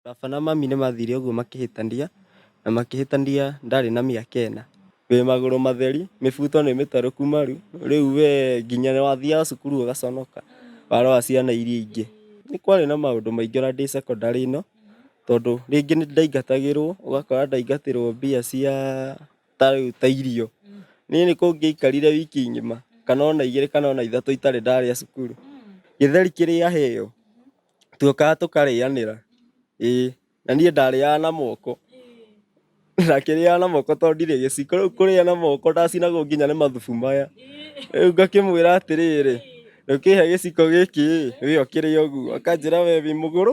Baba na mami nĩ mathire ũguo makĩhĩtania, na makĩhĩtania ndarĩ na mĩaka ĩna. Wĩ magũrũ matheri, mĩbuto nĩ mĩtarũku maru, rĩu we nginya nĩ wathiaga cukuru ũgaconoka, warora ciana iria ingĩ. Nĩ kwarĩ na maũndũ maingĩ ona ndĩ cekondarĩ ĩno, tondũ rĩngĩ nĩ ndaingatagĩrwo, ũgakora ndaingatĩrwo mbia cia... ta rĩu ta irio niĩ nĩ kũngĩaikarire wiki ng'ima kana ona igĩrĩ kana ona ithatũ itarĩ ndarĩa cukuru gĩtheri kĩrĩaheo twokaga tũkarĩanĩra ĩĩ na niĩ ndarĩaga na moko ndakĩrĩaga na moko tondũ ndirĩ gĩciko rĩu kũrĩa na moko ndacinagwo nginya nĩ mathubu maya rĩu ngakĩmwĩra atĩrĩrĩ ũkĩhe gĩciko gĩkĩ ĩ we ũkĩrĩe ũguo akanjĩra we wĩ mũgũrũ.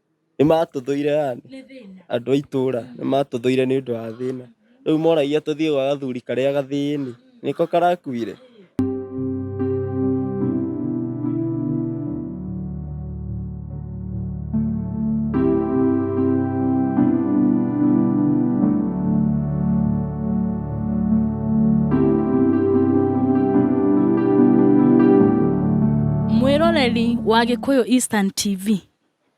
nĩ matũthũire yani andũ a itũra nĩ matũthũire nĩ ũndũ wa thĩna rĩu moragia tũthiĩ gwa gathuri karĩa gathĩni nĩko karakuire Mwĩroreri wa Gĩkũyũ Eastern TV,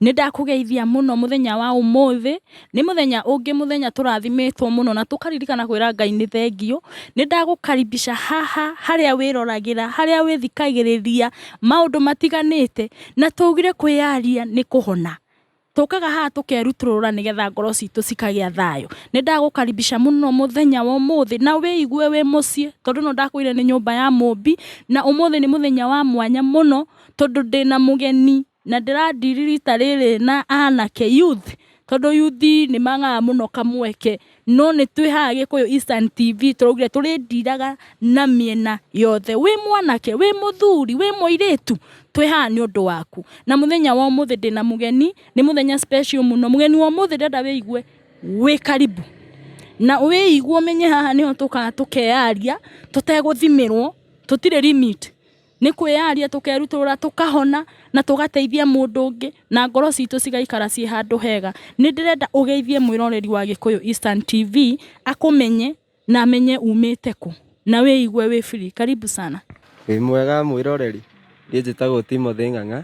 Nĩ ndakũgeithia mũno mũthenya wa ũmũthĩ, nĩ mũthenya ũngĩ mũthenya tũrathimĩtwo mũno na tũkaririkana kwĩra Ngai nĩ thengiũ. Nĩ ndagũkaribica haha harĩa wĩroragĩra, harĩa wĩthikagĩrĩria maũndũ matiganĩte, na tũgire kwĩyaria nĩ kũhona. Tũkaga haha tũkerutũrũra nĩgetha ngoro citũ cikagĩa thayũ. Nĩ ndagũkaribica mũno mũthenya wa ũmũthĩ na wĩigue wĩ mũciĩ tondũ ĩno ndakũire nĩ nyũmba ya Mũmbi, na ũmũthĩ nĩ mũthenya wa mwanya mũno tondũ ndĩna mũgeni. Na ndĩra deal rita rĩrĩ na anake, youth, tondũ youth nĩ magaga mũno kamweke. No nĩ twĩ haha Gĩkũyũ Instant TV tũraugire tũrĩ dealaga na mĩena yothe. Wĩ mwanake, wĩ mũthuri, wĩ mũirĩtu, twĩ haha nĩ ũndũ waku. Na mũthenya wa ũmũthĩ ndĩna mũgeni, nĩ mũthenya special mũno. Mũgeni wa ũmũthĩ ndĩrenda wĩigue wĩ karibu. Na wĩigue ũmenye haha nĩho tũkaga tũkeyaria tũtegũthimĩrwo, tũtirĩ limit. Nĩ kwĩyaria tũkerutũrũra tũkahona na tũgateithia mũndũ ũngĩ na ngoro citũ cigaikara ciĩ handũ hega. Nĩ ndĩrenda ũgeithie mwĩroreri wa Gĩkũyũ Eastern TV akũmenye na amenye umĩte kũ na wĩigue wĩ free. Karibu sana. Wĩ mwega mwĩroreri? Niĩ njĩtagwo Timothy Ng'ang'a.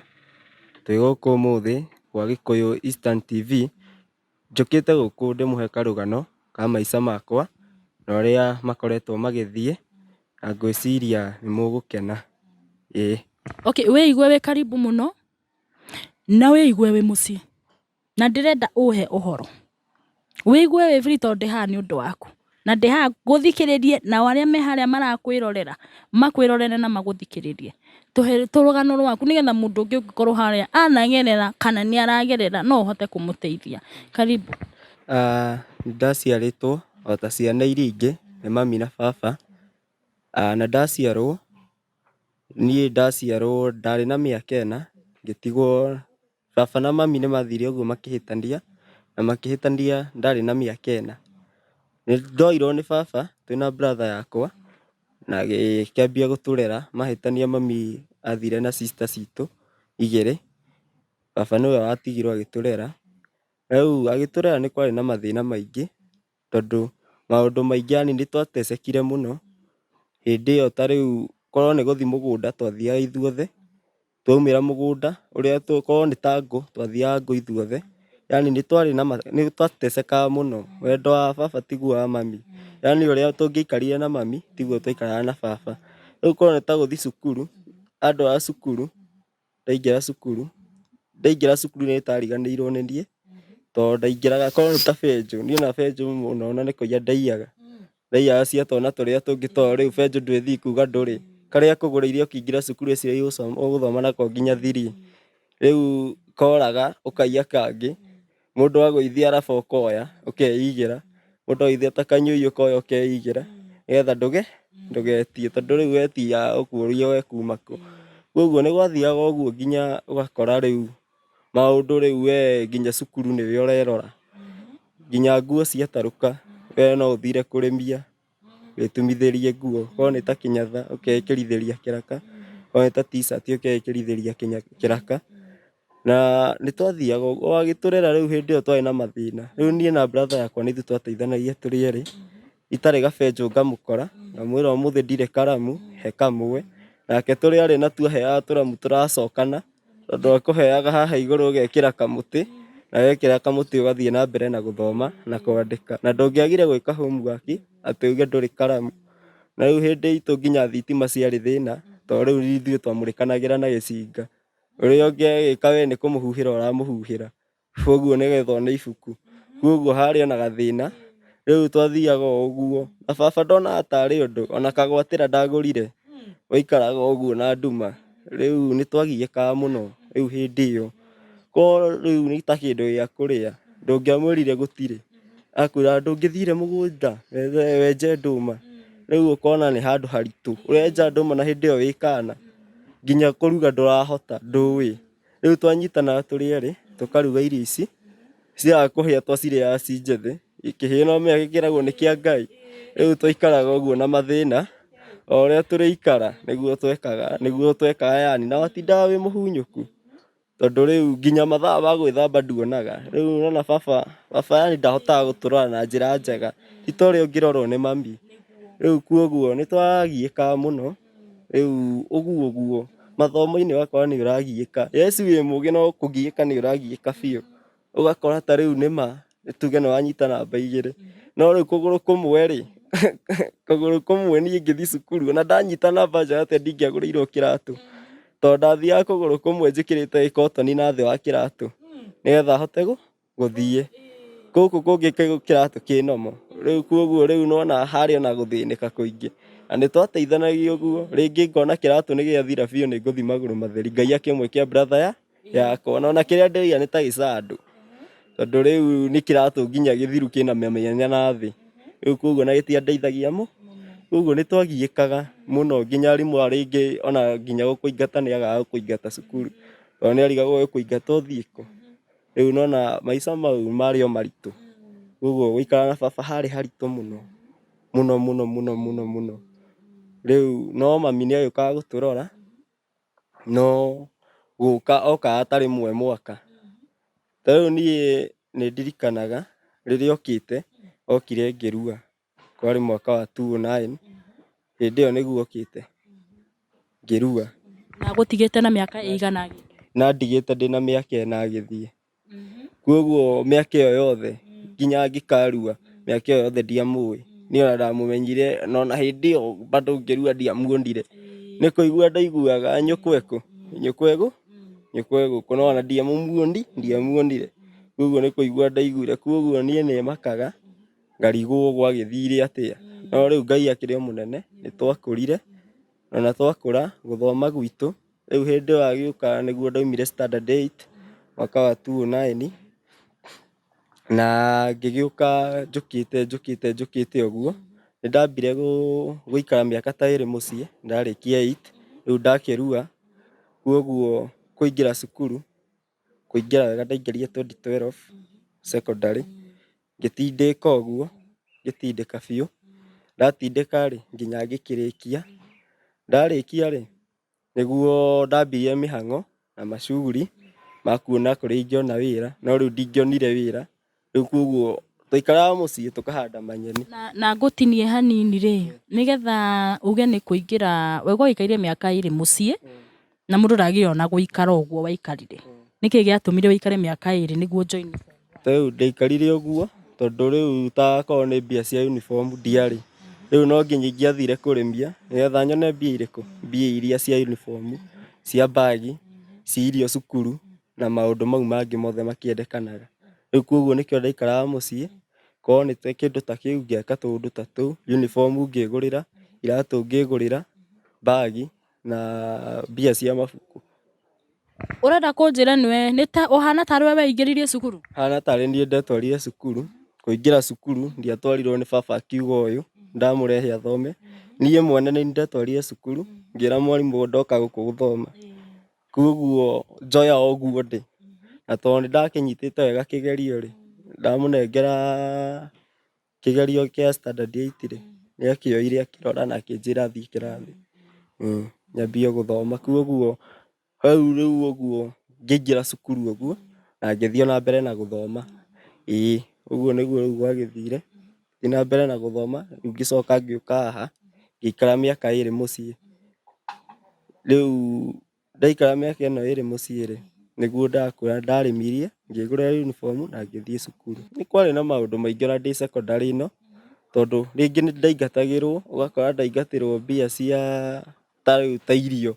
Twĩ gũkũ ũmũthĩ gwa Gĩkũyũ Eastern TV Njũkĩte gũkũ ndĩmũhe karũgano ka maica makwa na ũrĩa makoretwo magĩthiĩ na ngwĩciria nĩ mũgũkena. Ĩĩ. Okay, wĩigue wĩ karibu mũno na wĩigue wĩ mũciĩ na ndĩrenda ũhe ũhoro. Wĩigue wĩ free tondũ ndĩ haha nĩ ũndũ waku. na ndĩ haha ngũthikĩrĩrie nao arĩa me harĩa marakwĩrorera makwĩrorere na magũthikĩrĩrie. Tũhe rũgano rwaku nĩ getha mũndũ ũngĩ ũngĩkorwo harĩa anagerera kana nĩ aragerera no ũhote kũmũteithia. Karibu. Nĩ ndaciarĩtwo o ta ciana iria ingĩ nĩ mami na baba. Na ndaciarwo niĩ ndaciarwo ndarĩ na mĩaka ĩna ngĩtigwo Baba na mami nĩ mathire ũguo makĩhĩtania, na makĩhĩtania ndarĩ na mĩaka ĩna. Nĩ ndoirwo nĩ baba twĩ na brother yakwa, na agĩkĩambia gũtũrera, mahĩtania mami athire na sister citũ igĩrĩ, baba nĩwe watigirwo agĩtũrera. Rĩu agĩtũrera nĩ kwarĩ na mathĩna maingĩ. tondũ maũndũ maingĩ yani nĩ twatecekire mũno, hĩndĩ ĩyo ta rĩu korwo nĩ gũthiĩ mũgũnda twathiaga ithuothe, twaumĩra mũgũnda ũrĩa korwo nĩ ta ngũ twathiaga ngũ ithuothe, yani nĩ twarĩ na nĩ twatecekaga mũno, wendo wa baba tiguo wa mami, yani ũrĩa tũngĩaikarire na mami tiguo twaikaraga na baba, rĩu korwo nĩ ta gũthiĩ cukuru, andũ a cukuru ndaingĩra cukuru ndaingĩra cukuru nĩ ndariganĩirwo nĩ niĩ tondũ ndaingĩraga korwo nĩ ta benjũ niĩ ona benjũ ona nĩ kũiya ndaiyaga ndaiyaga cia twana tũrĩa tũngĩ tondũ rĩu benjũ ndũĩ ĩthiĩ kuga ndũrĩ karĩa ĩkũgũrĩire ũkĩingĩra cukuru ĩciria ũgũthoma nako nginya thiri rĩu koraga ũkaiya kangĩ. mũndũ agũithia arabu ũkoya ũkeigĩra mũndũ aithia ta kanyũi ũkoya ũkeigĩra nĩgetha ndũge ndũgetie tondũ rĩu wetia ũkuũrio we kuma kũ koguo nĩ gwathiaga ũguo nginya ũgakora rĩu maũndũ rĩu we nginya cukuru nĩwe ũrerora nginya nguo ciatarũka we no ũthire kũrĩmia wĩtumithĩrie nguo, korwo nĩ ta kĩnyatha ũkeĩkĩrithĩria kĩraka, korwo nĩ ta t-shirt ũkeĩkĩrithĩria kĩraka. Na nĩ twathiaga ũguo, o agĩtũrera rĩu hĩndĩ ĩyo twarĩ na mathĩna. Rĩu niĩ na brother yakwa nĩ ithuĩ twateithanagia tũrĩ erĩ, itarĩ gabenjũ ngamũkora, ngamwĩra ũmũthĩ ndirĩ karamu, he kamwe, nake tũrĩ erĩ natuo aheaga tũramu tũracokana. Tondũ akũheaga haha igũrũ ũgekĩra kamũtĩ, na wekĩra kamũtĩ ũgathiĩ na mbere na gũthoma na kwandĩka. Na ndũngĩagire gwĩka homework atĩ uge ndũrĩ karamu. Na rĩu hĩndĩ itũ nginya thitima ciarĩ thĩna, to rĩu ithuĩ twamũrĩkanagĩra na gĩcinga. Ũrĩa ũngĩ agĩka we nĩ kũmũhuhĩra ũramũhuhĩra. Koguo nĩ getha one ibuku. Koguo harĩ ona gathĩna, rĩu twathiaga o ũguo. Na baba ndonaga tarĩ ũndũ, ona kagwatĩra ndagũrire, waikaraga o ũguo na nduma. Rĩu nĩ twagiĩkaga mũno rĩu hĩndĩ ĩyo. Korwo rĩu nĩ ta kĩndũ gĩa kũrĩa, ndũngĩamwĩrire gũtirĩ, akwĩraga ndũngĩthire mũgũnda wenje ndũma? Rĩu ũkona nĩ handũ haritũ. Ũrenja ndũma na hĩndĩ ĩyo wĩ kaana, nginya kũruga ndũrahota, ndũĩ. Rĩu twanyitana tũrĩ erĩ, tũkaruga irio ici, ciaga kũhĩa twacirĩaga ci njĩthĩ, ikĩhĩa no ũmenya gĩkĩragwo nĩ kĩa Ngai. Rĩu twaikaraga ũguo na mathĩna, o ũrĩa tũrĩikara nĩguo twekaga, nĩguo twekaga yani, na watindaga wĩ mũhunyũku, tondũ rĩu nginya mathaa ma gwĩthamba nduonaga. Rĩu nĩwona baba, baba yani ndahotaga gũtũrora na njĩra njega, ti ta ũrĩa ũngĩrorwo nĩ mami. Rĩu kuoguo nĩtwagiĩkaga mũno. Rĩu ũguo ũguo mathomo-inĩ ũgakora nĩ ũragiĩka. Yes wĩ mũgĩ no kũgiĩka nĩ ũragiĩka biũ. Ũgakora ta rĩu nĩ ma nĩ tuge nĩ wanyita namba igĩrĩ, no rĩu kũgũrũ kũmwe rĩ, kũgũrũ kũmwe niĩ ngĩthiĩ cukuru ona ndanyita namba njega atĩa ndingĩagũrĩirwo kĩratũ. Tondũ ndathiaga kũgũrũ kũmwe njĩkĩrĩte gĩkotoni na thĩ wa kĩratũ nĩgetha hote gũ... gũthiĩ. Gũkũ kũngĩ kĩratũ kĩ normal. Rĩu kwoguo rĩu nĩ wona harĩ ona gũthĩnĩka kũingĩ. Na nĩ twateithanagia ũguo, rĩngĩ ngona kĩratũ nĩ gĩathira biũ nĩ ngũthiĩ magũrũ matheri, Ngai akĩmũĩkĩra brother ya yakwa. Ona ona kĩrĩa ndĩraiga nĩ ta gĩcandũ. Tondũ rĩu nĩ kĩratũ nginya gĩthiru kĩna mĩanya na thĩ. Rĩu kwoguo ona gĩtiandeithagia mũno. Kwoguo nĩ twagiĩkaga mũno nginya arimũ ona rĩngĩ ona nginya gũkũingata nĩ agaga gũkũingata cukuru. Tondũ nĩ arigagwo egũkũingata ũthiĩ kũ. Rĩu nona maica mau marĩ o maritũ. Koguo gũikara na baba harĩ haritũ mũno. Mũno mũno mũno mũno mũno. Rĩu no mami nĩagĩũkaga gũtũrora, no gũka okaga ta rĩmwe mwaka. Ta rĩu niĩ nĩndirikanaga rĩrĩa okĩte, okire ngĩrua. kwarĩ mwaka wa 2009 hĩndĩ ĩyo nĩguo okĩte ngĩrua na gũtigĩte na mĩaka ĩigana agĩthiĩ na ndigĩte ndĩ na mĩaka ĩna agĩthiĩ kwoguo mĩaka ĩyo yothe nginya ngĩkarua mĩaka ĩyo yothe ndiamũĩ niĩ ona ndamũmenyire na ona hĩndĩ ĩyo bado ngĩrua ndiamuonire nĩ kũigua ndaiguaga nyũkwa ekũ nyũkwa egũ nyũkwa egũkũ no ona ndiamũmuoni ndiamuonire kwoguo nĩ kũigua ndaiguire kwoguo niĩ nĩmakaga ngarigwo gwagĩthire atĩa no rĩu ngai akĩrĩ mũnene nĩ twakũrire ona twakũra gũthoma gwitũ rĩu hĩndĩ ĩyo agĩũka nĩguo ndaumire standard 8 mwaka wa 2009 na ngĩgĩũka njũkĩte njũkĩte njũkĩte ũguo nĩ ndambire gũikara mĩaka ta ĩrĩ mũciĩ ndarĩkia 8 rĩu ndakĩrua kwoguo kũingĩra cukuru kũingĩra wega ndaingĩrire 2012 secondary Ngĩtindĩka ũguo, ngĩtindĩka biũ, ndatindĩka rĩ, nginya ngĩkĩrĩkia. Ndarĩkia rĩ, nĩguo ndambirie mĩhang'o na macuguri ma kuona kũrĩa ingĩona wĩra, no rĩu ndingĩonire wĩra, rĩu koguo twaikaraga mũciĩ tũkahanda manyeni. Na, na ngũtinie hanini rĩ, nĩgetha uge nĩ kũingĩra, we ũgũgĩikaire mĩaka ĩrĩ mũciĩ, Na mũndũ ndagĩona gũikara ũguo waikarire. Nĩkĩ gĩatũmire ũikare mĩaka ĩrĩ nĩguo join? Rĩu ndaikarire ũguo tondũ rĩu ta korwo nĩ mbia cia uniform ndiarĩ. Rĩu no nginya ingĩathire kũrĩmia nĩgetha nyone mbia irĩkũ? Mbia iria cia uniform, cia mbagi, cia irio cukuru na maũndũ mau mangĩ mothe makĩendekanaga. Rĩu kuoguo nĩkĩo ndaikaraga mũciĩ, korwo nĩ ta kĩndũ ta kĩu ngĩaka tũũndũ ta tũu, uniform ngĩgũrĩra, iratũ ngĩgũrĩra, mbagi. na mbia cia mabuku. Ũrenda kũnjĩra nĩwe ũhana tarĩ we weingĩririe cukuru? Hana tarĩ niĩ ndetwarire cukuru, kũingĩra cukuru ndiatwarirwo nĩ baba akiuga ũyũ ndamũrehe athome. Niĩ mwene nĩ ndetwarire cukuru ngĩra mwarimũ ndoka gũkũ gũthoma. Koguo njoya o ũguo ndĩ. Na tondũ nĩ ndakĩnyitĩte wega kĩgerio rĩ, ndamũnengera... Kĩgerio kĩa standard eight rĩ, nĩ akĩoire akĩrora na akĩnjĩra thiĩ kĩrathi. Ĩĩ, nyambie gũthoma. Kwoguo hau rĩu ũguo ngĩingĩra cukuru ũguo, na ngĩthiĩ o na mbere na gũthoma. Ĩĩ, ũguo nĩguo rĩu gwagĩthire. Ngĩthiĩ na mbere na gũthoma, rĩu ngĩcoka ngĩũka haha, ngĩikara mĩaka ĩrĩ mũciĩ. Rĩu... Ndaikara mĩaka ĩno ĩrĩ mũciĩ-rĩ, nĩguo ndakũra ndarĩmirie, ngĩgũra uniform na ngĩthiĩ cukuru. Nĩ kwarĩ na maũndũ maingĩ ona ndĩ secondary ĩno, tondũ rĩngĩ nĩ ndaingatagĩrwo, ũgakora ndaingatĩrwo mbia cia ta rĩu ta irio.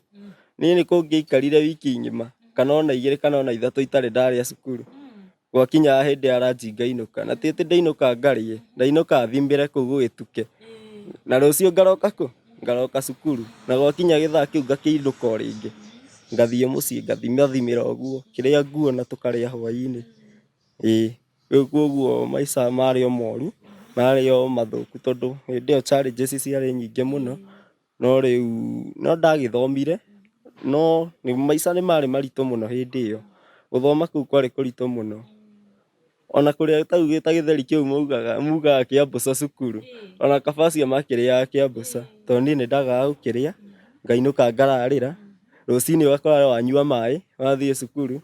Niĩ nĩ kũngĩaikarire wiki ng'ima, kana ona igĩrĩ kana ona ithatũ itarĩ ndarĩa cukuru. gwakinyaga hĩndĩ ya ranji ngainũka na ti atĩ ndainũka ngarĩe ndainũka thimbĩre kũu gũgĩtuke na rũciũ ngaroka kũ ngaroka cukuru na gwakinya gĩthaa kĩu ngakĩinũka o rĩngĩ ngathiĩ mũciĩ ngathimathimĩra ũguo kĩrĩa nguona tũkarĩa hwainĩ ĩĩ rĩu koguo maica marĩ o moru marĩ o mathũku tondũ hĩndĩ ĩyo challenges ciarĩ nyingĩ mũno No rĩu no ndagĩthomire no maica nĩ marĩ maritũ mũno hĩndĩ ĩyo. Gũthoma kũu kwarĩ kũritũ mũno. Ona kũrĩa ta gĩtheri kĩu maugaga mugaga kĩa mbũca cukuru, ona kaba acio makĩrĩaga kĩa mbũca to niĩ nĩ ndagaga gũkĩrĩa ngainũka ngararĩra. Rũcinĩ ũgakora we wanyua maĩ wathiĩ cukuru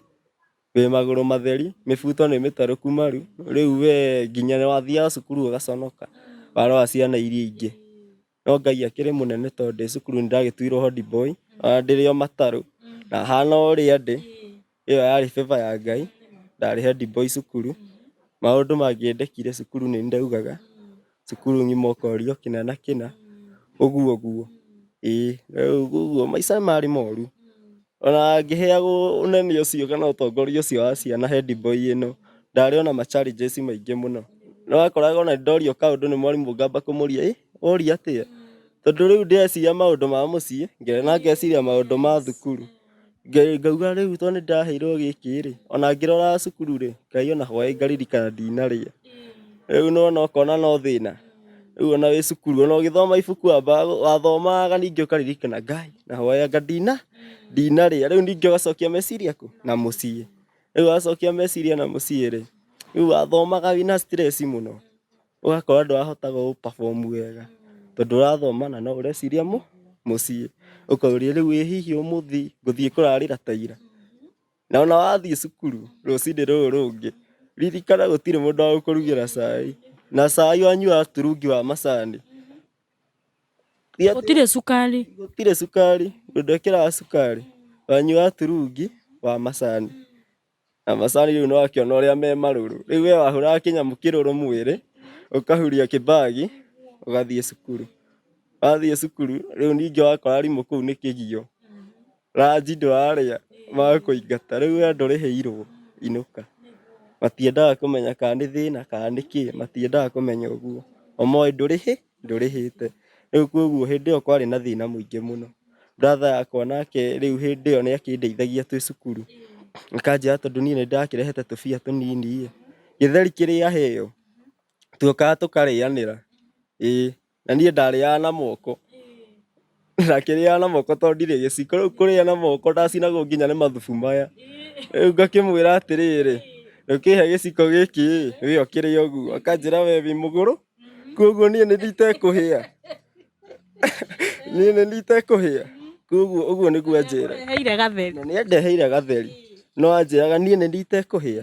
wĩ magũrũ matheri, mĩbuto nĩ mĩtarũku maru, rĩu we nginya wathiaga cukuru ũgaconoka warora ciana iria ingĩ. no Ngai akĩrĩ mũnene tondũ ndĩ cukuru nĩndagĩtuirwo hodi boy ona ndĩrĩ o matarũ na hana ũrĩa ndĩ ĩyo yarĩ favor ya Ngai ndarĩ hodi boy cukuru maũndũ mangĩendekire cukuru nĩ ndaugaga cukuru ngima ũkorio kĩna na kĩna ũguo ũguo ĩĩ rĩu ũguo maica nĩ marĩ moru. Ona ngĩheagwo ũnene ũcio kana ũtongoria ũcio wa ciana head boy ĩno, ndarĩ ona ma challenges maingĩ mũno. Nĩ wakoraga ona ndorio kaũndũ nĩ mwarimũ ngamba kũmũria, ĩ woria atĩa? Tondũ rĩu ndĩreciria maũndũ ma mũciĩ, na ngeciria maũndũ ma thukuru. Ngauga rĩu tondũ nĩ ndĩraheirwo gĩkĩ rĩ, ona ngĩrora cukuru rĩ, Ngai ona hwaĩ ngaririkana ndinarĩa. Rĩu nĩ wona ũkona no thĩna. rĩu ona wĩ cukuru ona ũgĩthoma ibuku wambaga gũ- wathomaga ningĩ ũkaririkana ngai na hoyanga ndina ndinarĩa rĩu ningĩ ũgacokia meciria kũ na mũciĩ rĩu wacokia meciria na mũciĩ rĩ rĩu wathomaga wĩna stress mũno ũgakora ndũrahotaga gũ perform wega tondũ ũrathoma na no ũreciria mũ mũciĩ ũkoria rĩu ĩ hihi ũmũthĩ ngũthiĩ kũrarĩra ta ira Na ona wathiĩ cukuru rũcinĩ rũrũ rũngĩ, ririkana gũtirĩ mũndũ wa gũkũrugĩra cai. Na cai wanyua turungi wa macani. Gũtirĩ cukari. Gũtirĩ cukari, mũndũ ndekĩraga cukari. Wanyua turungi wa macani. Na macani rĩu nĩwakĩona ũrĩa me marũrũ. Rĩu we wahũraga kĩnyamũ kĩrũrũ mwĩrĩ, ũkahuria kĩbagi, ũgathiĩ cukuru. Wathiĩ cukuru, rĩu ningĩ wakora arimũ kũu nĩ kĩgio. Ranji ndwarĩa makũingata rĩu we ndũrĩhĩirwo inũka. Matiendaga kũmenya kana nĩ thĩna kana nĩ kĩ matiendaga kũmenya ũguo. O moĩ ndũrĩhĩ ndũrĩhĩte. Rĩu koguo hĩndĩ ĩyo kwarĩ na thĩna mũingĩ mũno. Brother yakwa nake rĩu hĩndĩ ĩyo nĩ akĩndeithagia twĩ cukuru. Akanjĩra tondũ niĩ nĩ ndakĩrehete tũbia tũnini ĩ, gĩtheri kĩrĩa heo tuokaga tũkarĩanĩra. Ĩĩ. na niĩ ndarĩaga na moko na kĩrĩaga na moko tondũ ndirĩ gĩciko rĩu kũrĩa na moko ndacinagwo nginya nĩ mathubu maya rĩu ngakĩmwĩra atĩrĩrĩ ũkĩhe gĩciko gĩkĩ ĩ wĩyo kĩrĩa ũguo akanjĩra we wĩ mũgũrũ koguo niĩ nĩ itekũhĩa niĩ nĩ itekũhĩa koguo ũguo nĩguo anjĩra nĩ andeheire gatheri no anjĩraga niĩ nĩ itekũhĩa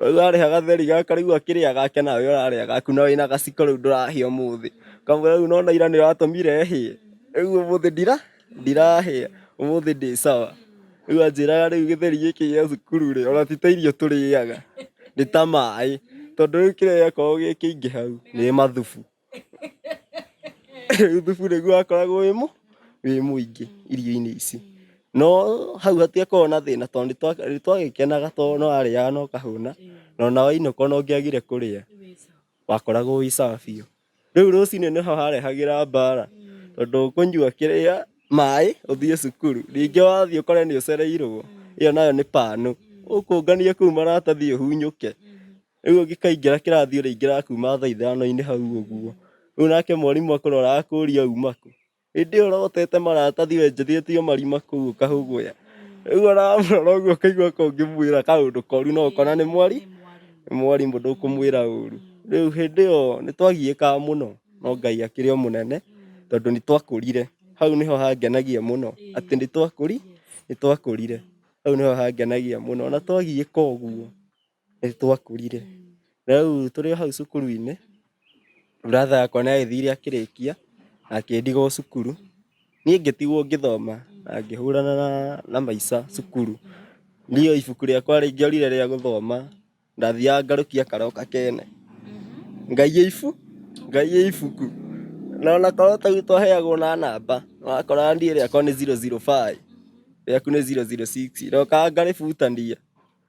Rĩu ũrarĩha gatheri gaka rĩu akĩrĩa gake nawe ũrarĩa gaku na wĩna gaciko rĩu ndũrahĩa mũthĩ. Kamũra rĩu nona ira nĩ watũmire hĩe. Rĩu ũmũthĩ ndira ndirahĩa ũmũthĩ ndĩ sawa. Rĩu anjĩraga rĩu gĩtheri gĩkĩ gĩa cukuru rĩ ona ti ta irio tũrĩaga nĩ ta maĩ. Tondũ rĩu kĩrĩa gĩakorwo gĩkĩingĩ hau nĩ mathubu. thubu nĩguo wakoragwo wĩ mũ wĩ mũingĩ irio-inĩ ici no hau hatiakorwo na thĩna tondũ nĩtwagĩkenaga tondũ no arĩaga no kahũna na ona wainũka ona ũngĩagire kũrĩa wakoragwo wĩ sawa biũ. Rĩu rũcinĩ nĩho harehagĩra mbara tondũ ũkũnyua kĩrĩa maĩ ũthiĩ cukuru ningĩ wathiĩ ũkore nĩũcereirwo ĩyo nayo nĩ pan ũkũngania kũu maratathi ũhunyũke. rĩu ũngĩkaingĩra kĩrathi ũrĩingĩra kuma thaa ithano-inĩ hau ũguo rĩu nake mwarimũ akũrora akũria uma kũ hĩndĩ ĩyo ũrotete maratathi wenjithĩtio marima kũu ũkahũgũya rĩu ũramũrora ũguo ũkaigua ka ũngĩmwĩra kaũndũ koru no ũkona nĩ mwari nĩ mwarimũ ndũkũmwĩra ũru rĩu hĩndĩ ĩyo nĩ twagiĩkaga mũno no Ngai akĩrĩ o mũnene tondũ nĩ twakũrire hau nĩho hangenagia mũno atĩ nĩ twakũri nĩ twakũrire hau nĩho hangenagia mũno ona twagiĩka ũguo nĩ twakũrire rĩu tũrĩ hau cukuru-inĩ brother yakwa nĩ agĩthire akĩrĩkia akĩndigwo cukuru niĩ ngĩtigwo ngĩthoma na ngĩhũrana na- na maica cukuru niĩ ibuku rĩakwa rĩngĩorire rĩa gũthoma ndathiaga ngarũkia karoka kene ngaiya ibu ngaiya ibuku na ona korwo tau twaheagwo na namba wakoraga niĩ rĩakwa nĩ zero zero five rĩaku nĩ zero zero six ndokaga ngarĩbutania.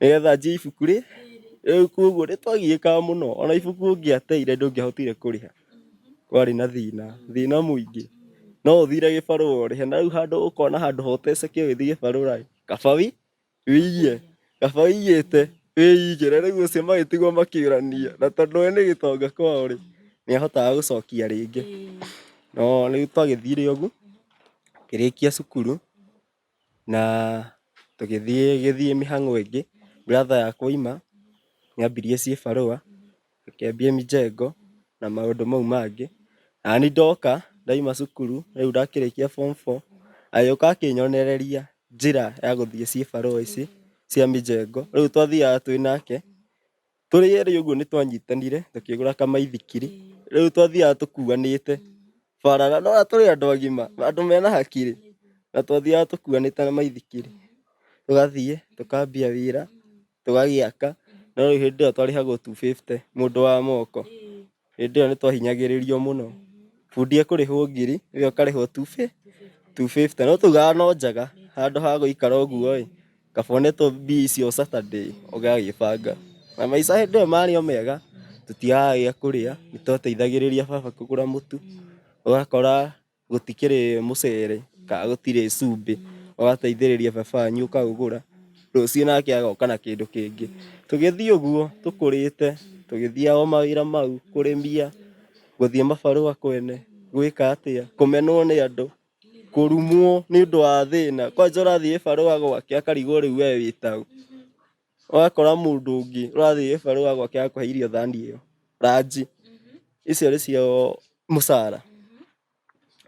nĩgetha njie ibuku rĩ rĩu koguo nĩ twagiĩkaga mũno ona ibuku ũngĩateire ndũngĩahotire kũrĩha kwarĩ na thĩna thĩna mũingĩ no ũthire gĩbarũa ũrĩhe na rĩu handũ ũkona handũ ha ũteceke ũgĩthiĩ gĩbarũa ĩ kaba wĩiye kaba wĩiyĩte wĩigĩre rĩu acio magĩtigwo makĩũrania na tondũ we nĩ gĩtonga kwao rĩ nĩahotaga gũcokia rĩngĩ no nĩ twagĩthire ũguo ngĩrĩkia cukuru. na tũgĩthiĩ gĩthiĩ mĩhang'o ĩngĩ, brother yakwa oima nĩ ambirie cibarũa, akĩambia mjengo na maũndũ mau mangĩ. Nani ndoka ndaima cukuru rĩu ndakĩrĩkia form four agĩũka akĩnyonereria njĩra ya gũthiĩ cibarũa ici cia mjengo, rĩu twathiaga twĩ nake. Tũrĩ erĩ ũguo nĩ twanyitanire tũkĩgũra kamaithikiri. Rĩu twathiaga tũkuanĩte bara na nora tũrĩ andũ agima, andũ mena hakiri. Na twathiaga tũkuanĩte na maithikiri. Tũgathiĩ, tũkambia wĩra, tũgagĩaka. No rĩu hĩndĩ ĩyo twarĩhagwo two fifty mũndũ wa moko. Hĩndĩ ĩyo nĩ twahinyagĩrĩrio mũno. Bundi ekũrĩhwo ngiri, ĩyo ũkarĩhwo two fifty. No twaugaga no njaga, handũ ha gũikara ũguo ĩ, kaba ũnetwo mbia icio Saturday ũgagĩbanga. Na maica hĩndĩ ĩyo marĩ o mega, tũtiagaga gĩa kũrĩa, nĩ twateithagĩrĩria baba kũgũra mũtu, ũgakora... gũtikĩrĩ mũcere kana gũtirĩ cumbĩ ũgateithĩrĩria baba wanyu ũkaũgũra rũciũ nake agoka na kĩndũ kĩngĩ tũgĩthiĩ ũguo tũkũrĩte tũgĩthiaga o mawĩra mau kũrĩmia gũthiĩ mabarũa kwene gwĩka atĩa kũmenwo nĩ andũ kũrumwo nĩũndũ wa thĩna kwanja ũrathiĩ gĩbarũa gwake akarigwo rĩu we wĩtaũ. ũgakora mũndũ ũngĩ ũrathiĩ gĩbarũ wa gwake akũhe irio thani ĩyo ranji icio nĩ cio mũcara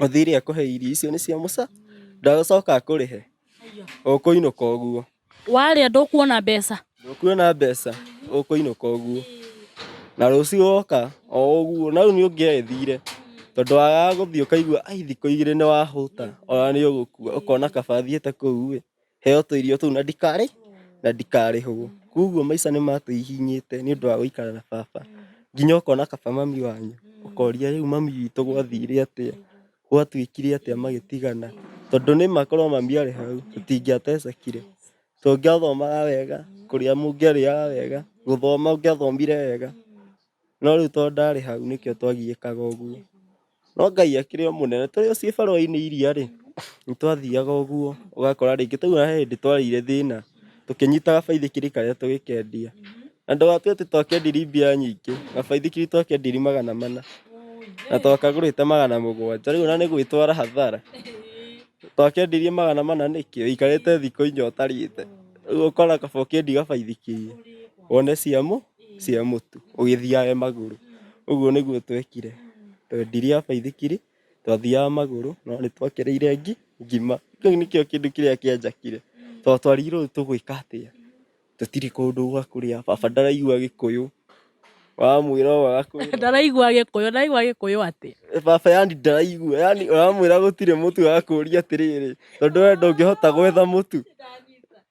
ũthire akũhe irio icio nĩ cia mũca ndagũcoka akũrĩhe ũkũinũka ũguo warĩa ndũkuona mbeca ndũkuona mbeca ũkũinũka ũguo na rũciũ woka o ũguo na rĩu nĩ ũngĩethire tondũ wagaga gũthiĩ ũkaigua ai thikũ igĩrĩ nĩ wahũta ona nĩ ũgũkua ũkona kaba thiĩte kũu ĩ heo tũirio tũu na ndikarĩ na ndikarĩhwo koguo maica nĩ matũihinyĩte nĩ ũndũ wa gũikara na baba nginya ũkona kaba mami wanyu ũkoria rĩu mami witũ gwathire atĩa gwatuĩkire atĩa magĩtigana tondũ nĩ makorwo mami arĩ hau tũtingĩatecekire tũngĩathomaga wega kũrĩa mũngĩarĩaga wega gũthoma ũngĩathomire wega. No rĩu tondũ ndarĩ hau nĩkĩo twagiĩkaga ũguo. No Ngai akĩrĩ o mũnene. Tũrĩ o ciĩbarũa-inĩ iria rĩ, nĩ twathiaga ũguo. Ũgakora rĩngĩ twauma he hĩndĩ twarĩire thĩna, tũkĩnyita gabaithikiri karĩa tũgĩkendia. Na ndũgakĩrĩ atĩ twakendiri mbia nyingĩ, gabaithikiri twakendiri magana mana, na twakagũrĩte magana mũgwanja. Rĩu ona nĩ gwĩtwara hathara. Twakendirie magana mana nĩkĩ? Ũikarĩte thikũ inya ũtarĩte. Rĩu ũkona kaba ũkendie gabaithikiri, wone cia cia mũtu ũgĩthiaga magũrũ. Ũguo nĩguo twekire, twendire a baithikiri, twathiaga magũrũ no nĩ twakĩrĩire ngima. Kĩu nĩkĩo kĩndũ kĩrĩa kĩanjakire tondũ twarigirwo rĩu tũgwĩka atĩa, tũtirĩ kũndũ gwa kũrĩa, baba ndaraigua gĩkũyũ, wamwĩra ũũ agakwĩra ũũ. Ndaraigua gĩkũyũ, ndaraigua gĩkũyũ atĩ. Baba yani ndaraigua, yani ũramwĩra gũtirĩ mũtu agakũria atĩrĩrĩ, tondũ we ndũngĩhota gwetha mũtu.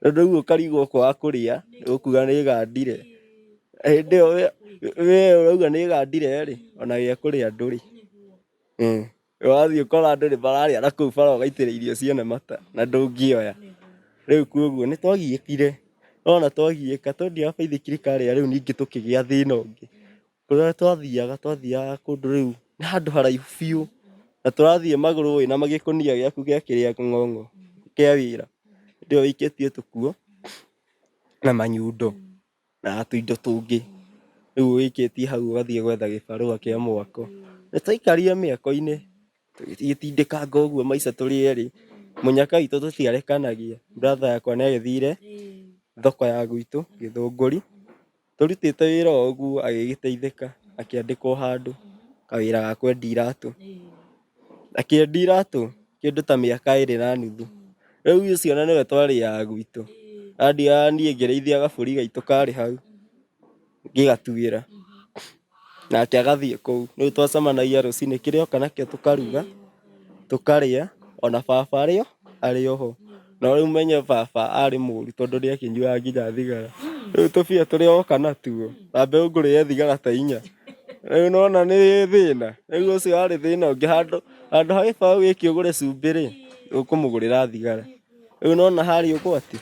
Tondũ rĩu ũkarigwo kwaga kũrĩa, ũkuga nĩ gandire. Hĩndĩ ĩyo we ũrauga nĩ gandire rĩ, ona gĩa kũrĩa ndũrĩ. Wathiĩ ũkora andũ nĩ mararĩa na kũu bara ũgaitĩrĩra irio ciene mata na ndũngĩoya. Rĩu kwoguo nĩ twagiĩkire, nĩ wona twagiĩka tondũ ndiũĩ kaba ithuĩ thirikari ya rĩu ningĩ tũkĩgĩa thĩna ũngĩ. Kũrĩa twathiaga twathiaga kũndũ rĩu nĩ handũ haraihu biũ na tũrathiĩ magũrũ wĩna magĩkũnia gĩaku gĩa kĩrĩa ng'ong'o kĩa wĩra hĩndĩ ĩyo wĩikĩtie tũkuo na manyundo na tũindo tũngĩ rĩu wĩikĩtie hau ũgathiĩ gwetha gĩbarũa kĩa mwako. Nĩ twaikarire mĩako-inĩ tũgĩtindĩkanga ũguo maica tũrĩ erĩ, mũnyaka witũ tũtiarekanagia brother yakwa nĩ agĩthire thoko ya gwitũ gĩthũngũri. tũrutĩte wĩra o ũguo agĩgĩteithĩka akĩandĩkwo handũ kawĩra ga kwendia iratũ akĩendia iratũ kĩndũ ta mĩaka ĩrĩ na nuthu rĩu ũcio ona nĩwe twarĩaga gwitũ andiaga niĩ ngĩrĩithia gabũri gaitũ karĩ hau ngĩgatuĩra nake agathiĩ kũu. Rĩu twacemanagia rũcinĩ kĩrĩa oka nakĩo tũkaruga, tũkarĩa, ona baba arĩ o, arĩ o ho. No rĩu menye baba arĩ mũũru tondũ nĩakĩnyuaga nginya thigara. Rĩu tũbia tũrĩa oka natuo, ta mbeũ ngũrĩre thigara ta inya. Rĩu nĩwona nĩ thĩna? Rĩu ũcio arĩ thĩna ũngĩ handũ handũ ha gĩbaũ gĩkĩ ũgũre cumbĩ-rĩ, ũkũmũgũrĩra thigara. Rĩu nĩwona harĩ ũgwati?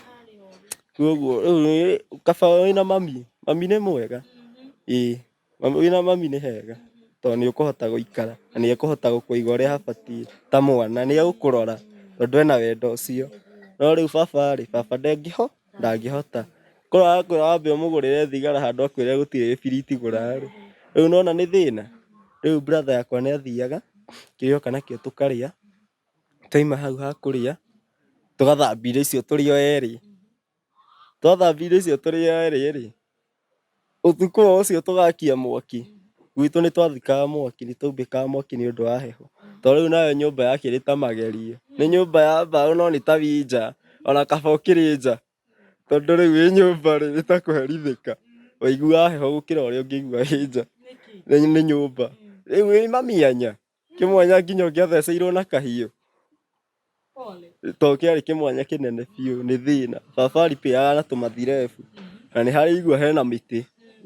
Koguo rĩu nĩ- kaba wĩna mami mami nĩ mwega ĩĩ mami- wĩna mami nĩ hega tondũ nĩ ũkũhota gũikara na nĩ ekũhota gũkũiga ũrĩa habatiĩ ta mwana nĩ egũkũrora tondũ ena wendo ũcio no rĩu baba rĩ baba ndengĩho ndangĩhota korwo arakwĩra wambe ũmũgũrĩre thigara handũ akwĩre gũtirĩ gĩbiriti gũra rĩ rĩu nĩ wona nĩ thĩna rĩu brother yakwa nĩ athiaga kĩrĩa oka nakĩo tũkarĩa Twaima hau ha kũrĩa, tũgathambia irio icio tũrĩ o erĩ. Twathambia irio icio tũrĩ o erĩ rĩ, ũtukũ o ũcio tũgakia mwaki. Gwitũ nĩ twathikaga mwaki, nĩ twaumbĩkaga mwaki nĩ ũndũ wa heho. To rĩu nayo nyũmba ya kerĩ ta magerio. Nĩ nyũmba ya mbaũ no nĩ ta wĩ nja, ona kaba ũkĩrĩ nja. Tondũ rĩu wĩ nyũmba rĩ, nĩ ta kũherithĩka. Waiguaga heho gũkĩra ũrĩa ũngĩigua wĩ nja. Nĩ nyũmba. Rĩu wĩ mami anya. kĩmwanya nginya ũngĩatheceirwo na kahiũ to kĩarĩ kĩmwanya kĩnene biũ nĩ thĩna baba aripĩaga na tũmathirebu na nĩ harĩ igua hena mĩtĩ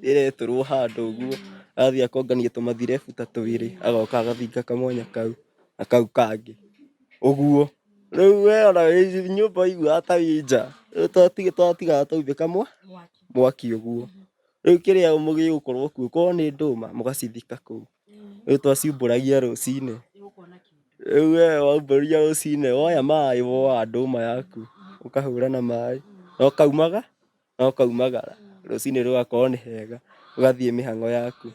ĩretũrwo handũ ũguo athiĩ akongania tũmathirebu ta twĩrĩ agoka agathinga kamwanya kau na kau kangĩ ũguo rĩu we ona wĩ nyũmba ũiguaga ta wĩ nja rĩu twati- twatigaga twaumbĩka mwa mwaki ũguo rĩu kĩrĩa mũgĩgũkorwo kuo korwo nĩ ndũma mũgacithika kũu Rĩu twaciumbũragia rũcinĩ. Rĩu we waumbũria rũcinĩ, woya maĩ, woa ndũma yaku, ũkahũra na maĩ, na ũkaumaga, na ũkaumagara. Rũcinĩ rũgakorwo nĩ hega, ũgathiĩ mĩhang'o yaku.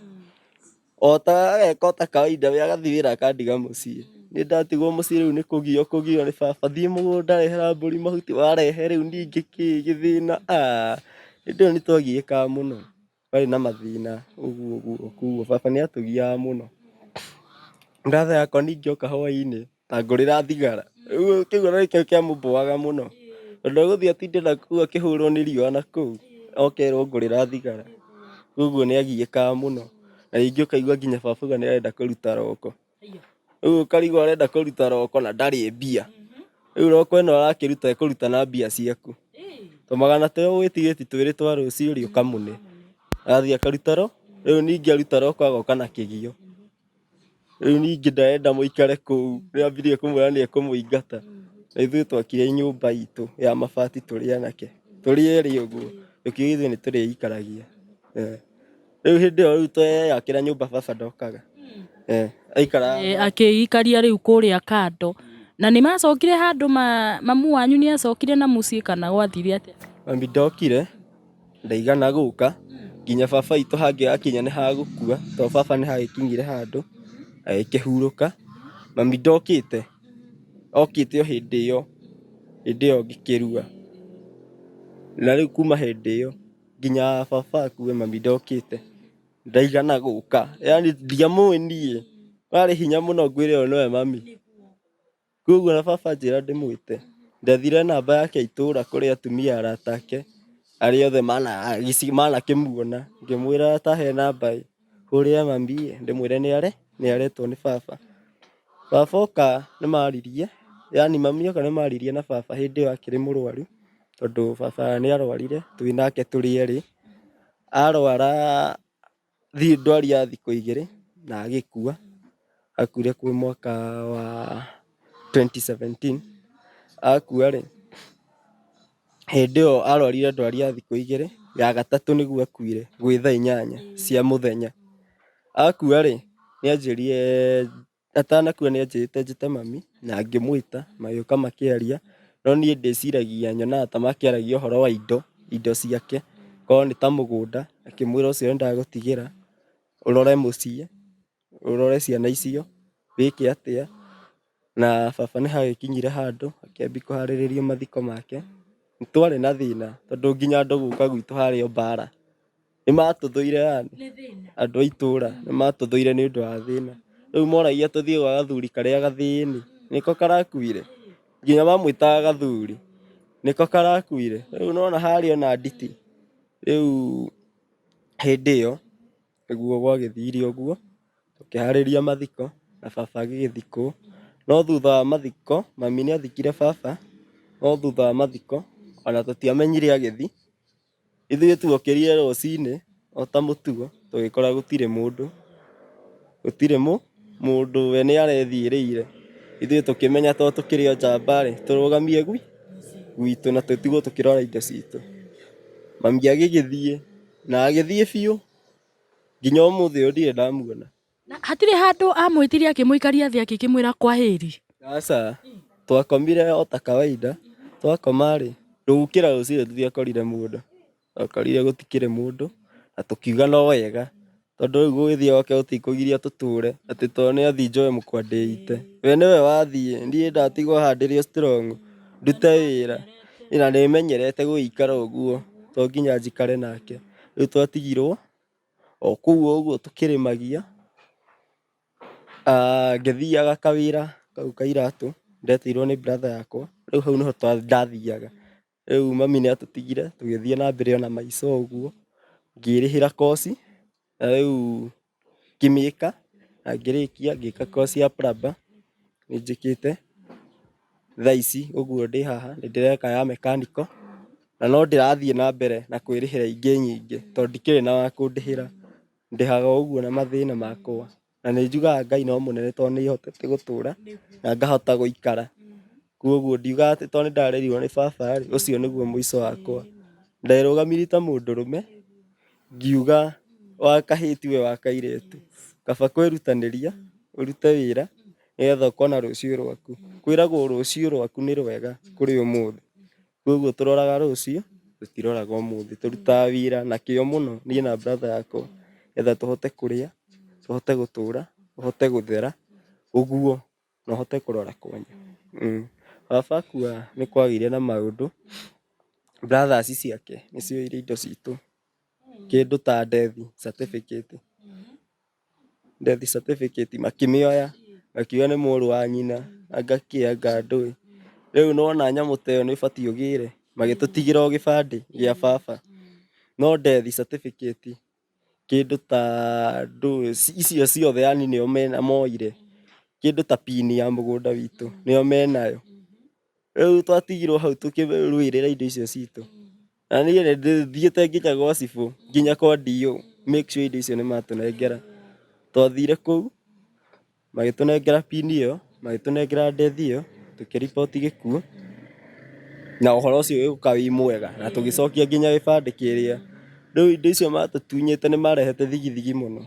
O ta ageka o ta kawaida, we agathiĩ wĩra akandiga mũciĩ. Niĩ ndatigwo mũciĩ rĩu nĩ kũgio kũgio nĩ baba, thiĩ mũgũnda rehera mbũri mahuti, warehe rĩu niĩ ngĩkĩĩ, gĩthĩna, aah. Hĩndĩ ĩyo nĩ twagiĩkaga mũno. Twarĩ na mathĩna ũguo ũguo kuguo baba nĩ atũgiaga mũno. Brother yakwa ningĩ oka hwaĩ-inĩ angũrĩra thigara. Rĩu kĩu ona nĩkĩo kĩamũbũaga mũno tondũ egũthiĩ atinde nakũu akĩhũrwo nĩ riũa nakũu oke erwo ngũrĩra thigara. Kuguo nĩ agiĩkaga mũno na rĩngĩ ũkaigua nginya baba auga nĩ arenda kũruta roko. rĩu ũkarigwo arenda kũruta roko na ndarĩ mbia rĩu roko ĩno arakĩruta ekũruta na mbia ciaku tũmagana tũrĩa ũgwĩtigĩti twĩrĩ twa rũciũ rĩ ũkamũne athiĩ akaruta ro rĩu ningĩ aruta roko agoka na kĩgio rĩu ningĩ ndarenda mũikare kũu rĩu ambirie kũmwĩra nĩ ekũmũingata na ithuĩ twakire nyũmba itũ ya mabati tũrĩ anake tũrĩ erĩ ũguo tũkiuga ithuĩ nĩ tũrĩikaragia. Rĩu hĩndĩ ĩyo rĩu tweyakĩra nyũmba baba ndokaga. Eh, aikara Eh, akĩikaria rĩu kũrĩa kando na nĩ macokire handũ ma, mamu wanyu nĩ acokire na mũciĩ kana gwathire atĩa mami ndokire ndaigana gũka nginya baba itũ hangĩ akinya nĩ hagũkua tondũ baba nĩ hagĩkinyire handũ agĩkĩhurũka mami ndokĩte okĩte o hĩndĩ ĩyo hĩndĩ ĩyo ngĩkĩrua na rĩu kuma hĩndĩ ĩyo nginya baba akue mami ndokĩte, ndaigana gũka yaani ndiamũĩ niĩ, warĩ hinya mũno ngwĩre ũyũ nĩwe mami, koguo na baba anjĩra ndĩmwĩte, ndathire namba yake ya itũra kũrĩ atumia arata ake arĩa othe manakĩmuona, ngĩmwĩra atahe namba ĩ. kũrĩa mambie ndĩmwĩre nĩ are nĩ aretwo nĩ baba baba oka nĩ maririe yani mami oka nĩ maririe na baba hĩndĩ ĩyo akĩrĩ mũrwaru tondũ baba nĩ arwarire twĩ nake tũrĩ erĩ arwara thi- ndwari ya thikũ igĩrĩ na agĩkua akuire kwĩ mwaka wa 2017 akua rĩ Hĩndĩ ĩyo arwarire ndwari ya thikũ igĩrĩ, ya gatatũ nĩguo akuire, gwĩ thaa inyanya cia mũthenya. Akua-rĩ, nĩanjĩrire, atanakua nĩanjĩrĩte njĩte mami, na ngĩmwĩta, magĩũka makĩaria, no niĩ ndĩciragia nyonaga ta makĩaragia ũhoro wa indo, indo ciake, korwo nĩ ta mũgũnda, akĩmwĩra ũcio nĩndagũtigĩra, ũrore mũciĩ. ũrore ciana icio wĩke atĩa, na baba nĩ hagĩkinyire handũ akĩambia kũharĩrĩria mathiko make. Nĩ twarĩ na thĩna tondũ nginya andũ gũka gwitũ harĩ o mbara nĩ matũthũire yani, andũ a itũra nĩ matũthũire nĩ ũndũ wa thĩna. Rĩu moragia tũthiĩ gwa gathuri karĩa gathĩni nĩko karakuire, nginya mamwĩtaga gathuri nĩko karakuire. Rĩu nĩ wona harĩ ona nditi rĩu hĩndĩ ĩyo. Ũguo gwagĩthire ũguo, tũkĩharĩria mathiko na baba agĩgĩthikwo. No thutha wa mathiko, mami nĩ athikire baba, no thutha wa mathiko ona tũtiamenyire agĩthiĩ. Ithuĩ tuokĩrire rũcinĩ o ta mũtugo tũgĩkora gũtirĩ mũndũ, gũtirĩ mũndũ we nĩ arethiĩrĩire. Ithuĩ tũkĩmenya tondũ tũkĩrĩ o njamba rĩ, tũrũgamie gwitũ na tũtigwo tũkĩrora indo citũ. Mami agĩgĩthiĩ. na agĩthiĩ biũ nginya ũmũthĩ ũyũ ndirĩ ndamuona Na hatirĩ handũ amwĩtire akĩmũikaria thĩ akĩkĩmwĩra kwahĩri aca twakomire o ta kawaida twakoma rĩ tũgũkĩra rũciinĩ tũtiakorire mũndũ twakorire gũtikĩrĩ mũndũ na tũkiuga no wega Tondũ rĩu gũgĩthiĩ gwake gũtikũgiria tũtũũre, atĩ to nĩ athiĩ njoe mũkwa ndĩite. We nĩwe wathiĩ, ndiĩ ndatigwo haha ndĩrĩ o strong, ndute wĩra. Na nĩ menyerete gũgĩikara ũguo, to nginya njikare nake. Rĩu twatigirwo o kũu o ũguo tũkĩrĩmagia, ngĩthiaga kawĩra kau ka iratũ, ndetirwo nĩ brother yakwa, rĩu hau nĩho ndathiaga. Rĩu mami nĩ atũtigire tũgĩthiĩ na mbere ona maica ũguo ngĩrĩhĩra koci na rĩu ngĩmĩka na ngĩrĩkia ngĩka koci ya plumber nĩ njĩkĩte thaa ici ũguo ndĩ haha nĩ ndĩreka ya mechanical na no ndĩrathiĩ na mbere na kwĩrĩhĩra ingĩ nyingĩ tondũ ndikĩrĩ na wa kũndĩhĩra ndĩhaga o ũguo na mathĩna makwa. Na nĩ njugaga Ngai no mũnene tondũ nĩ hotete gũtũra na ngahota gũikara. Kwoguo ndiugaga atĩ tondũ nĩ ndarerirwo nĩ baba rĩ, ũcio nĩguo mũico wakwa. Nderũgamirie ta mũndũrũme, ngiuga wa kahĩĩ tiwe wa kairĩtu. Kaba kwĩrutanĩria, ũrute wĩra, nĩgetha ũkona rũciũ rwaku. Kwĩragwo rũciũ rwaku nĩ rwega kũrĩ ũmũthĩ. Koguo tũroraga rũciũ, tũtiroraga ũmũthĩ. Tũrutaga wĩra na kĩo mũno, niĩ na brother yakwa, nĩgetha tũhote kũrĩa, tũhote gũtũra, tũhote gũthera, ũguo, na ũhote kũrora kwanya. Baba akua nĩ kwagĩire na maũndũ, brothers ciake nĩcioire indo citũ, kĩndũ ta ndethi, certificate. death certificate makĩmĩoya makiuga nĩ mũrũ wa nyina anga kĩ anga ndũĩ. Rĩu nĩ wona nyamũ ta ĩyo nĩ ĩbatiĩ ũgĩre magĩtũtigĩra o gĩbandĩ gĩa baba. No death certificate kĩndũ ta ndũĩ icio ciothe yaani nĩo moire. Kĩndũ ta pin ya mũgũnda witũ nĩo menayo. Rĩu twatigirwo hau tũkĩrũĩrĩra indo icio citũ. na niĩ nĩ ndĩthiĩte nginya gwa cibũ nginya kwa DO make sure indo icio nĩ matũnengera twathire kũu magĩtũnengera pin ĩyo magĩtũnengera death ĩyo tũkĩ report gĩkuũ na ũhoro ũcio ũgĩũka wĩ mwega na tũgĩcokia nginya gĩbandĩ kĩrĩa rĩu indo icio matũtunyĩte nĩ marehete thigithigi mũno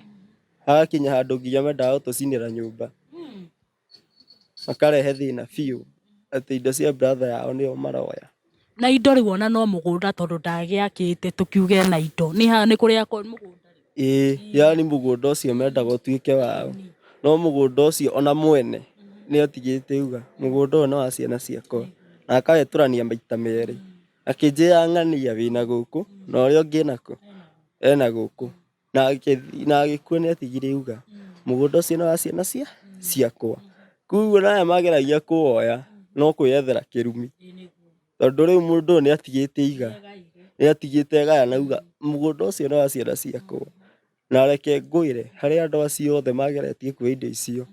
hagakinya handũ nginya mendaga gũtũcinĩra nyũmba. makarehe thĩna biũ atĩ indo cia brother yao nĩo maroya. Na indo rĩu ona no mũgũnda tondũ ndagĩakĩte tũkiuge ena indo. Nĩ ha nĩ kũrĩa kwa mũgũnda. Ĩĩ, yani mũgũnda ũcio mendaga ũtuĩke wao. No mũgũnda ũcio ona mwene nĩ atigĩte uga mũgũnda ũyũ nĩ wa ciana ciakwa. Na akawetũrania maita merĩ. Akĩnjĩra ng'ania wĩna gũkũ na ũrĩa ũngĩ ena kũ? Ena gũkũ. na agĩthi- na agĩkua nĩ atigire iuga mũgũnda ũcio nĩ wa ciana cia ciakwa koguo naya mageragia kũwoya no kwĩyethera kĩrumi tondũ rĩu mũndũ ũyũ nĩ atigĩte iga nĩ atigĩte gaya na auga mũgũnda ũcio nĩ wa ciana ciakwa na reke ngwĩre harĩ andũ acio othe mageretie kuoya indo icio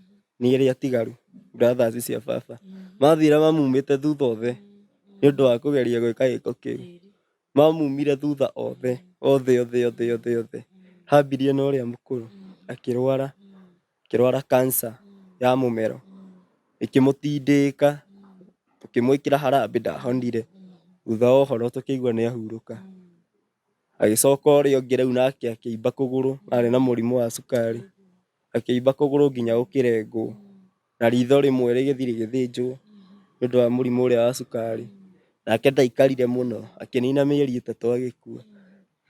nĩ arĩa atigaru brothers cia baba mathire mamumĩte thutha othe nĩ ũndũ wa kũgeria gwĩka gĩko kĩu. Mamumire thutha othe, othe, othe, othe, othe, othe. Hambirie na ũrĩa mũkũrũ, akĩrwara, akĩrwara cancer ya mũmero. Ĩkĩmũtindĩka, tũkĩmwĩkĩra harambĩ ndahonire. Thutha wa ũhoro tũkĩigua nĩahurũka. Agĩcoka ũrĩa ũngĩ rĩu nake akĩimba kũgũrũ, arĩ na mũrimũ wa cukari. Akĩimba kũgũrũ nginya gũkĩrengwo. na ritho rĩmwe rĩgĩthiĩ rĩgĩthĩnjwo nĩ ũndũ wa mũrimũ ũrĩa wa cukari. Nake ndaikarire mũno, akĩnina mĩeri ĩtatũ agĩkua.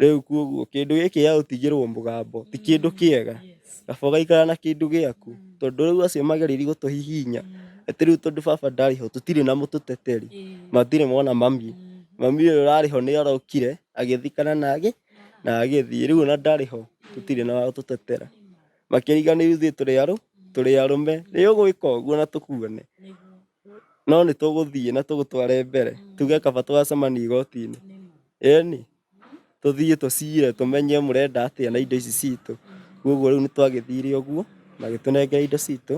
Rĩu koguo kĩndũ gĩkĩ gĩa gũtigĩrwo mũgambo ti kĩndũ kĩega. Kaba ũgaikara na kĩndũ gĩaku tondũ rĩu acio magereire gũtũhihinya atĩ rĩu tondũ baba ndarĩ ho tũtirĩ na mũtũteteri, matirĩ mona mami. Mami ũyũ ũrarĩ ho nĩ arokire agĩthikana na agĩthiĩ, rĩu ona ndarĩ ho tũtirĩ na wa gũtũtetera. makĩriga nĩ ithuĩ tũrĩ arũ tũrĩ arũme nĩ ũgwĩka ũguo na tũkuone no nĩ tũgũthiĩ na tũgũtware mbere tuge kaba twacemania igoti-inĩ ĩni tũthiĩ tũcire tũmenye mũrenda atĩa na indo ici citũ koguo rĩu nĩ twagĩthire ũguo magĩtũnengera indo citũ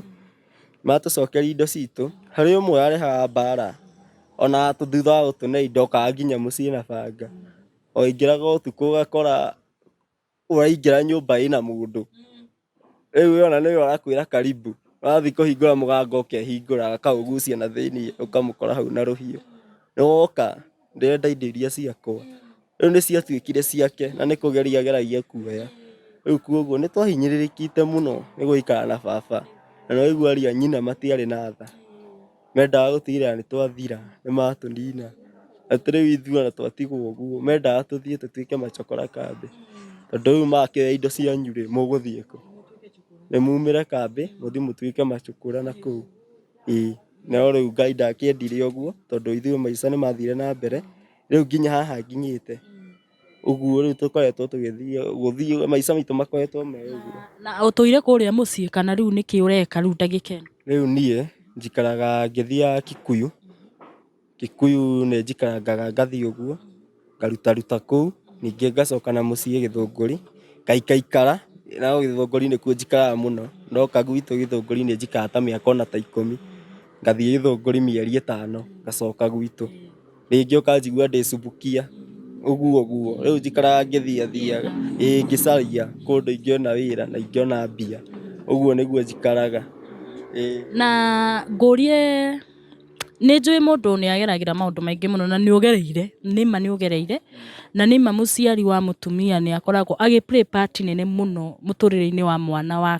matũcokeria indo citũ harĩ ũmwe arehaga mbara ona thutha wa gũtũne indo okaga nginya mũciĩ na banga oingĩraga ũtukũ ũgakora ũraingĩra nyũmba ĩna mũndũ rĩu ũyũ ona nĩwe ũrakwĩra karibu ũrathiĩ kũhingũra mũganga ũkehingũra akaũgucia na thĩiniĩ ũkamũkora hau na rũhiũ nĩwoka ndĩrenda indo iria ciakwa rĩu nĩciatuĩkire ciake na nĩkũgeria ageragia kuoya rĩu kwoguo nĩtwahinyĩrĩrĩkĩte mũno nĩgũikara na baba na nĩwaigua aria nyina matiarĩ na tha. Mendaga gũtigĩrĩra nĩ twathira, nĩ matũnina. Atĩ rĩu ithuothe twatigwo ũguo. Mendaga tũthiĩ tũtuĩke macakũra kambĩ. Tondũ rĩu makĩoya indo cianyu rĩ, mũgũthiĩ kũ? Nĩ mumĩre kambĩ, mũthiĩ mũtuĩke macakũra na kũu. Ĩĩ. No rĩu Ngai ndakĩendire ũguo, tondũ ithuĩ maica nĩ mathire na mbere, rĩu nginya haha nginyĩte. Ũguo rĩu tũkoretwo tũgĩthiĩ gũthiĩ maica maitũ makoretwo me ũguo. Na ũtũire kũrĩa mũciĩ kana rĩu nĩkĩ ũreka rĩu ndagĩka ĩno? Rĩu niĩ njikaraga ngĩthiaga Kikuyu. Kikuyu nĩ njikarangaga ngathiĩ ũguo ngarutaruta kũu ningĩ ngacoka na mũciĩ Gĩthũngũri ngaikaikara na Gĩthũngũri nĩkuo njikaraga mũno. Ndoka gwitũ Gĩthũngũri nĩ njikaraga ta mĩaka ona ta ikũmi. Ngathiĩ Gĩthũngũri mĩeri ĩtano ngacoka gwitũ. rĩngĩ ũkanjigua ndĩcubukia ũguo guo rĩu njikaraga ngĩthiathiaga ĩĩ ngĩcaria kũndũ ingĩona wĩra na ingĩona mbia ũguo nĩguo njikaraga ĩĩ Na ngũrie nĩ njũĩ mũndũ nĩ ageragĩra maũndũ maingĩ mũno na nĩ ũgereire, nĩ ma nĩ ũgereire, na nĩ ma mũciari wa mũtumia nĩ akoragwo agĩ play part nene mũno mũtũrĩre-inĩ wa mwana wa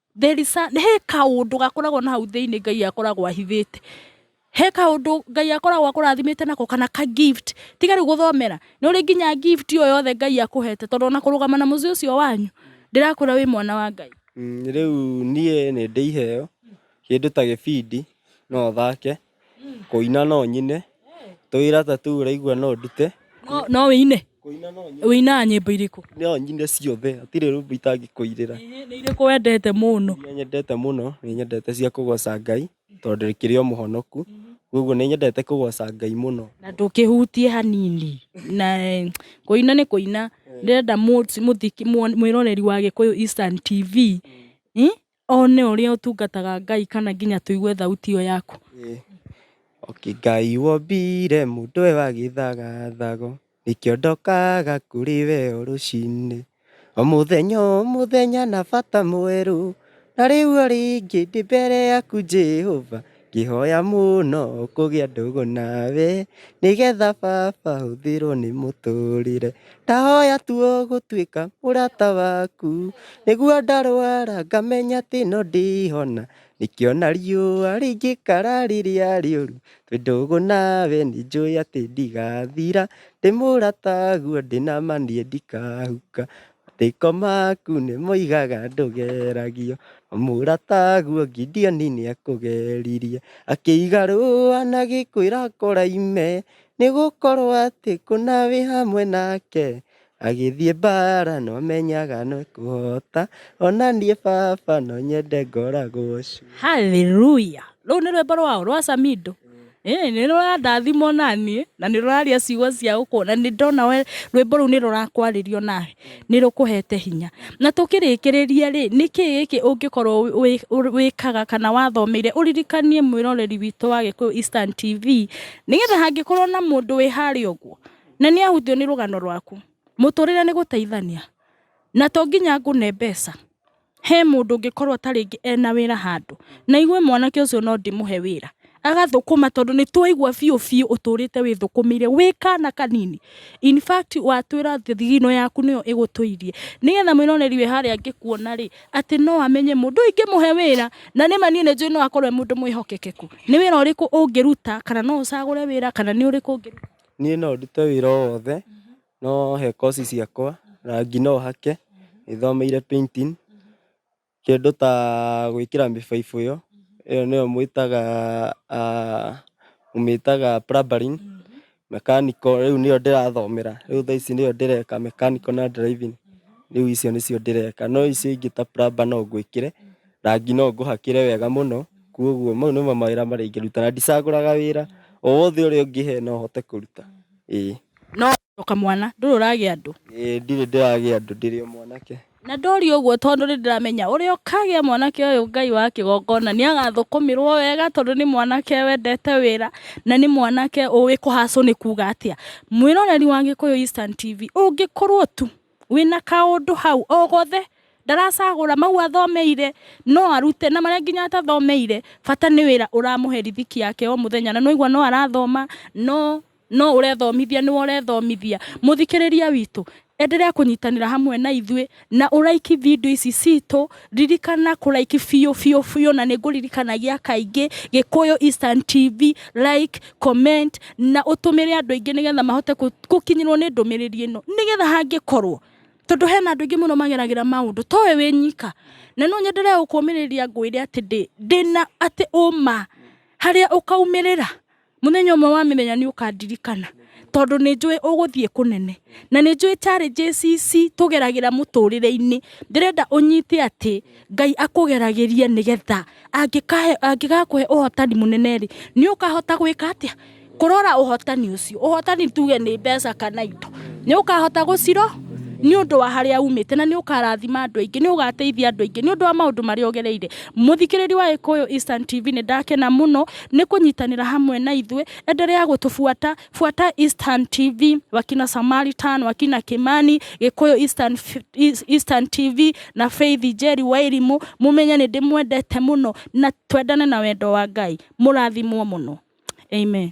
There is a, he kaũndũ gakoragwo na hau thĩinĩ Ngai akoragwo ahithĩte. He kaũndũ Ngai akoragwo akũrathimĩte nako kana ka gift. Tiga rĩu gũthomera. Nĩ ũrĩ nginya gift o yothe Ngai akũhete tondũ ona kũrũgama na mũciĩ ũcio wanyu ndĩrakwĩra wĩ mwana wa Ngai. Mm, rĩu niĩ nĩ ndĩ iheo kĩndũ ta gĩbindi no thake Kũina no nyine. Tũwĩra ta tũu ũraigua no ndute. No- no wĩine Kũina no nyine. wĩinaga nyĩmbo irĩkũ No nyine ciothe. Hatirĩ rwĩmbo itangĩkũinĩra. nĩ irĩkũ wendete mũno Iria nyendete mũno, nĩ nyendete cia kũgoca Ngai, tondũ ndĩkĩrĩ o mũhonoku. Koguo nĩ nyendete kũgoca Ngai mũno. na ndũkĩhutie hanini na eh, kũina nĩ kũina ndĩrenda mũ- mũthiki- mũ- mwĩroreri wa gĩkũyũ Eastern TV eh, One ũrĩa ũtungataga Ngai kana nginya tũigue thauti ĩyo yaku. Oki Ngai wombire mũndũ e wa gĩthagathago, nĩkĩo ndokaga kũrĩ we o rũcinĩ. O mũthenya o mũthenya na bata mwerũ, na rĩu o rĩngĩ ndĩ mbere yaku Jehova. Ngĩhoya mũno kũgĩa ndũgũ nawe nĩgetha baba hũthĩrwo nĩ mũtũrĩre. Ndahoya tu ũgũtuĩka mũrata waku nĩguo ndarwara ngamenya atĩ no ndĩhona. Nĩkĩo ona riũa rĩngĩkara rĩrĩa rĩũru twĩ ndũgũ nawe nĩ njũĩ atĩ ndigathira. Ndĩ mũrataguo ndĩ nama niĩ ndikahuka. Rĩko maku nĩ moigaga ndũgeragio mũrataguo Gideoni nĩ akũgeririe akĩiga rũa na gĩkwĩra kũraime nĩ gũkorwo atĩ kũna wĩ hamwe nake agĩthiĩ mbara no menyaga no kũhota ona niĩ baba no nyende ngoragwo cu Hallelujah. Rũu nĩ rwĩmbo rwao rwa Samido. Ĩĩ nĩ rũrandathima onaniĩ na nĩ rũraria ciugo cia ũkũrũ na nĩ ndona we rwĩmbo rũu nĩ rũrakwarĩria onawe nĩ rũkũhete hinya na tũkĩrĩkĩrĩria rĩ nĩkĩ gĩkĩ ũngĩkorwo wĩkaga kana wathomeire ũririkanie mwĩroreri witũ wa Gĩkũyũ Eastern TV nĩgetha hangĩkorwo na mũndũ wĩ harĩa ũguo na nĩ ahutio nĩ rũgano rwaku mũtũrĩre nĩ gũteithania na to nginya ngũne mbeca. He mũndũ ũngĩkorwo ta rĩngĩ ena wĩra handũ, na igue mwanake ũcio no ndĩmũhe wĩra, agathũkũma tondũ nĩ twaigua biũ biũ ũtũrĩte wĩthũkũmĩire wĩ kana kanini. In fact watwĩra atĩ thigino yaku nĩyo ĩgũtũirie. Nĩgetha mwĩroneri wĩ harĩa angĩkuona rĩ, atĩ no amenye mũndũ ũyũ ingĩmũhe wĩra, na nĩma niĩ nĩ njũĩ no akorwo e mũndũ mwĩhokekeku. Nĩ wĩra ũrĩkũ ũngĩruta, kana no ũcagũre wĩra, kana nĩ ũrĩkũ ũngĩruta? Niĩ no ndute wĩra o wothe, No he koci ciakwa, rangi no hake, nĩ thomeire painting, kĩndũ ta gwĩkĩra mĩbaibũ ĩyo, ĩyo nĩyo mwĩtaga mũmĩtaga plumbering, mechanical rĩu nĩyo ndĩrathomera, rĩu thaa ici nĩyo ndĩreka mechanical na driving, rĩu icio nĩcio ndĩreka, no icio ingĩ ta plumber no ngwĩkĩre, rangi no ngũhakĩre wega mũno, koguo mau nĩmo mawĩra marĩa ingĩruta, na ndicagũraga wĩra, o wothe ũrĩa ũngĩhe no hote kũruta. Ĩĩ. No. O kamwana. Ndũrĩ ũragĩa andũ. Ĩĩ, ndirĩ ndĩragĩa andũ. Ndĩrĩ o mwanake. Na ndorio ũguo tondũ nĩndĩramenya ũrĩa ũkagĩa mwanake ũyũ Ngai wa kĩgongona nĩagathũkũmĩrwo wega tondũ nĩ mwanake wendete wĩra na nĩ mwanake ũĩ kũhacũ nĩ kuuga atĩa. Mwĩroreri wa Gĩkũyũ Instant TV, ũngĩkorwo tu. wĩna kaũndũ hau o gothe ndaracagũra mau athomeire no arute na marĩa nginya atathomeire bata nĩ wĩra ũramũhe rithiki yake o mũthenya na nĩwaigua no arathoma no no ũrethomithia nĩwe ũrethomithia mũthikĩrĩria witũ enderea kũnyitanĩra hamwe na ithuĩ na ũraiki video ici citũ Ririkana kũ like biũ biũ biũ na nĩ ngũririkanagia kaingĩ Gĩkũyũ Eastern TV, like, comment na ũtũmĩre andũ aingĩ nĩgetha mahote gũkinyĩrwo nĩ ndũmĩrĩri ĩno nĩgetha hangĩkorwo tondũ hena andũ aingĩ mũno mageragĩra maũndũ to we wĩ nyika na no nyendere gũkũmĩrĩria ngwĩre atĩ ndĩ ndĩna atĩ ũma harĩa ũkaumĩrĩra. Mũthenya ũmwe wa mĩthenya nĩ ũkandirikana tondũ nĩ njũĩ ũgũthiĩ kũnene na nĩ njũĩ challenges ici tũgeragĩra mũtũrĩre-inĩ ndĩrenda ũnyite atĩ Ngai akũgeragĩrie nĩgetha angĩkahe angĩgakũhe ũhotani mũnene rĩ nĩ ũkahota gwĩka atĩa? Kũrora ũhotani ũcio. Ũhotani tuge nĩ mbeca kana indo. Nĩ ũkahota gũciro nĩ ũndũ wa harĩa umĩte na nĩ ũkarathima andũ aingĩ, nĩ ũgateithia andũ aingĩ nĩ ũndũ wa maũndũ marĩa ũgereire. Mũthikĩrĩria wa Gĩkũyũ Instant TV nĩ ndakena mũno. nĩ kũnyitanĩra hamwe na ithuĩ endelea gũtũbuata buata Eastern TV wakina Samaritan wakina Kimani Gĩkũyũ Eastern, Eastern TV na Faith Njeri wa Irimũ mũmenye nĩ ndĩmwendete mũno na twendane na wendo wa Ngai mũrathimwo mũno amen